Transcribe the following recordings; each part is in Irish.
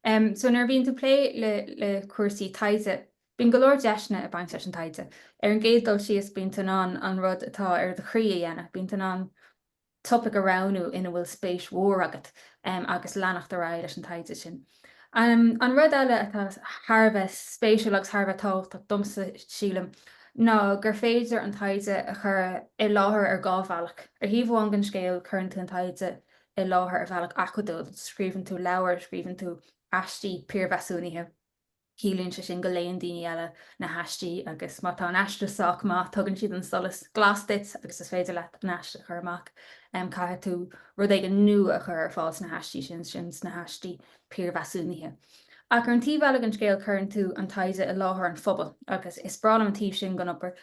So, nuair a bhíonn tú plé le cúrsaí taighde, bíonn go leor deiseanna ag baint leis an taighde. Ar an gcéad dul síos, bíonn tú in ann an rud atá ar do chroí a dhéanamh, bíonn tú in ann topaic a roghnú ina bhfuil spéis mór agat agus leanacht ar aghaidh leis an taighde sin. An rud eile atá thar a bheith spéisiúil agus thar a bheith tábhachtach domsa, sílim, ná gur féidir an taighde a chur i láthair ar dhá bhealach. Ar thaobh amháin den scéal, cuireann tú an taighde i láthair ar bhealach acadúil, scríobhann tú leabhair, scríobhann tú aistí piarmheasúnaithe, ciallaíonn sé sin go léann daoine eile na haistí agus má tá an aiste sách maith tugann siad an solas glas duit agus is féidir leat an aiste a chur amach. Caithfidh tú rud éigin nua a chur ar fáil sna haistí sin, sin sna haistí piarmheasúnaithe. Ach ar an taobh eile den scéal cuireann tú an taighde i láthair an phobail agus is breá liom an taobh sin den obair.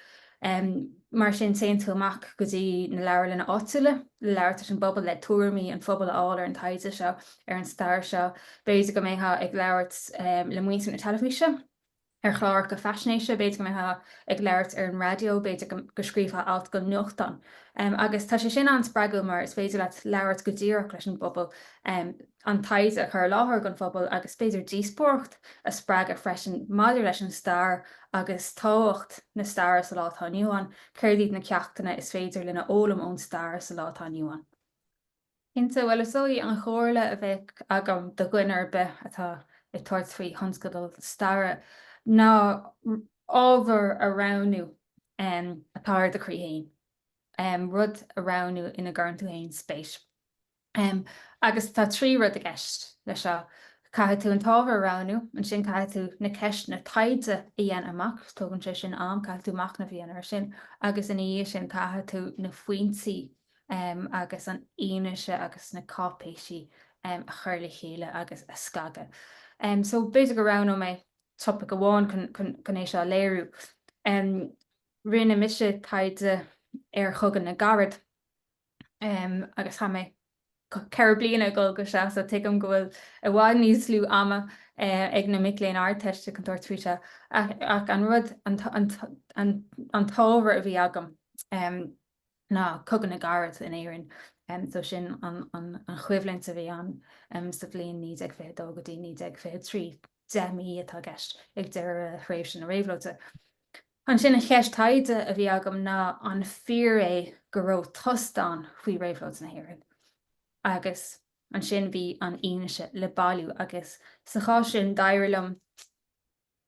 Mar sin téann tú amach go dtí na leabharlanna áitiúla le labhairt leis an bpobal, le tuairimí an phobail a fháil ar an taighde seo, ar an stair seo. B'fhéidir go mbeifeá ag labhairt le muintir na teilifíse. ar chláracha faisnéise, b'fhéidir go mbeifeá ag labhairt ar an raidió, b'fhéidir go scríobhfá alt don nuachtán. Agus tá sé sin an-spreagúil mar is féidir leat labhairt go díreach leis an bpobal, an taighde a chur i láthair don phobal agus b'fhéidir díospóireacht a spreagadh freisin maidir leis an stair agus tábhacht na staire sa lá atá inniu ann, céard iad na ceachtanna is féidir linn a fhoghlaim ón stair sa lá atá inniu ann. Cinnte, bhuel is í an chomhairle a bheadh agam do dhuine ar bith atá ag tabhairt faoi thionscadal staire ná ábhar a roghnú atá ar do chroí féin, rud a roghnú ina gcuireann tú féin spéis. Agus tá trí rud i gceist leis seo, caithfidh tú an t-ábhar a roghnú, ansin caithfidh tú na ceisteanna taighde a dhéanamh amach, tógann sé sin am, caithfidh tú machnamh a dhéanamh air sin, agus ina dhiaidh sin caithfidh tú na foinsí agus an fhianaise agus na cáipéisí a chur le chéile agus a scagadh. So, b'fhéidir go roghnóidh mé topaic amháin chun é seo a léiriú. Rinne mise taighde ar Chogadh na gCarad agus chaith mé ceithre bliana ag gabháil dó sin, so tuigim go bhfuil i bhfad níos lú ama ag na mic léinn Ardteiste chun tabhairt faoi seo, ach an rud, an t-ábhar a bhí agam, ná Cogadh na gCarad in Éirinn, so sin an choimhlint a bhí ann sa bhliain 1922 go dtí 1923, deich mí atá i gceist, ag deireadh thréimhse na réabhlóide. Ansin, an cheist taighde a bhí agam ná an fíor é go raibh tost ann faoi réabhlóid na hÉireann? Agus ansin bhí an fhianaise le bailiú agus sa chás sin d'éirigh liom,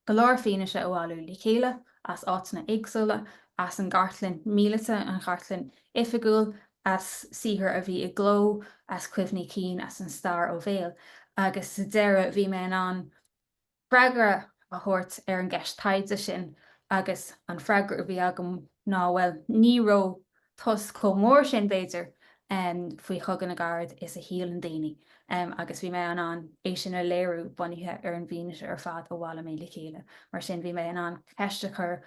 go leor fianaise a bhailiú le chéile as áiteanna éagsúla, as an gcartlann mhíleata, an chartlann oifigiúil, as saothar a bhí i gcló, as cuimhní cinn, as an stair ó bhéal. Agus sa deireadh bhí mé in ann freagra a thabhairt ar an gceist taighde sin agus an freagra a bhí agam ná, bhuel, ní raibh. tost chomh mór sin, b'fhéidir, faoi Chogadh na gCarad is a shíleann daoine agus bhí mé in ann é sin a léiriú bunaithe ar an bhfianaise ar fad a bhailigh mé le chéile. Mar sin, bhí mé in ann ceist a chur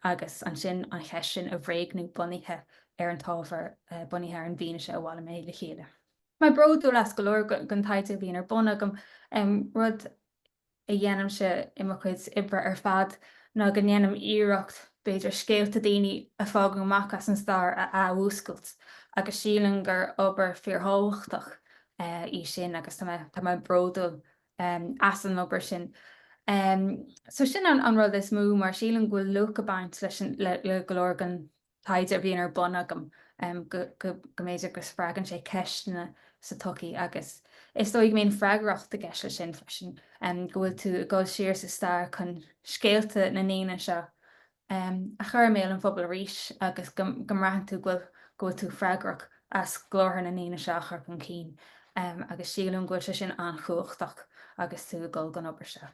agus ansin an cheist sin a bhréagnú bunaithe ar an t-ábhar, bunaithe ar an bhfianaise a bhailigh mé le chéile. Tá mé bródúil as go leor den taighde a bhíonn ar bun agam, rud a dhéanaimse i mo chuid oibre ar fad ná go ndéanaim iarracht, b'fhéidir, scéalta daoine a fágadh amach as an stair a athmhúscailt agus sílim gur obair fíorthábhachtach í sin agus tá mé bródúil as an obair sin. So sin an rud is mó mar sílim go bhfuil luach ag baint le go leor den taighde a bhíonn ar bun agam go mb'fhéidir go spreagann sé ceisteanna sa tsochaí agus is dóigh go mbíonn freagracht i gceist leis sin freisin, go bhfuil tú ag dul siar sa stair chun scéalta na ndaoine seo a chur i mbéal an phobail arís agus go mbraitheann tú go bhfuil tú freagrach as glórtha na ndaoine seo a chur chun cinn agus sílim go bhfuil sé sin an-chumhachtach agus tú ag dul don obair seo.